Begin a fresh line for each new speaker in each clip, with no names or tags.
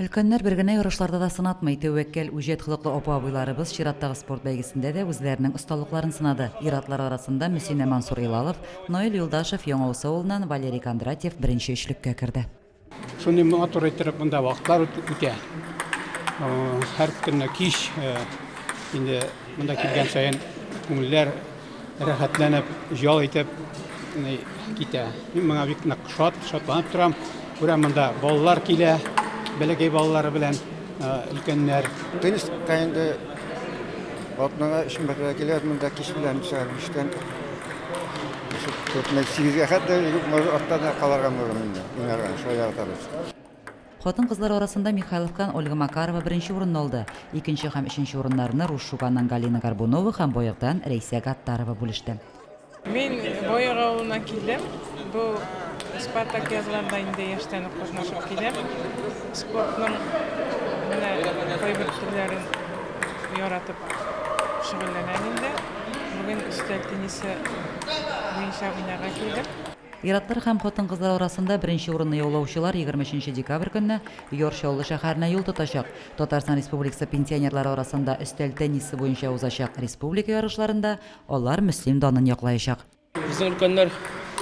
Өлкәннәр бер генә ярышларда да сынатмый. Тәвәккәл, үҗәт холыклы апа-абыйларыбыз чираттагы спорт бәйгесендә дә үзләренең осталыкларын сынады. Ир-атлар арасында Мөсинә Мансур-Илалов, Наил Юлдашев, Яңаусы авылыннан Валерий Кондратьев беренче өчлеккә керде. Шундый матур
иттереп монда вакытлар үтә. Һәр көнне кич инде монда килгән саен күңелләр Рәхәтләнеп, җал итеп китә. Мин моңа бик нык шат, шатланып торам. Күрәм, монда балалар килә, бәләкәй балалары белән өлкәннәр. Тенниска
инде атнага өч мәртәбә киләбез, монда кич белән сәгать биштән сигезгә хәтле арттан калырга мөмкин инде, уйнарга, шулай яратабыз. Хатын-кызлар
арасында Михайловтан Ольга Макарова беренче урынны алды. Икенче һәм өченче урыннарны Руш Шуганнан Галина Горбунова һәм Боегдан Рәйсә Гаттарова бүлеште. Мин
Боег авылына килдем. Бу Спартак язларда инде яшьтән үк катнашып киләм. Спортның менә кайбер төрләрен яратып шөгыльләнәм инде. Бүген өстәл теннисы буенча уйнарга килдем. Ир-атлар һәм
хатын-кызлар арасында беренче урынны яулаучылар егерме өченче декабрь көнне Яр Чаллы шәһәренә юл тотачак. Татарстан Республикасы пенсионерлары арасында өстәл теннисы буенча узачак республика ярышларында алар Мөслим данын яклаячак. Безнең өлкәннәр,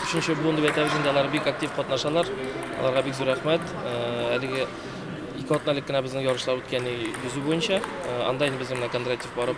өченче буын дип әйтәбез инде, алар бик актив катнашалар. Аларга бик зур рәхмәт. Әлеге ике атна элек кенә безнең ярышлар үткән йөзү буенча. Анда инде безнең менә Кондратьев барып,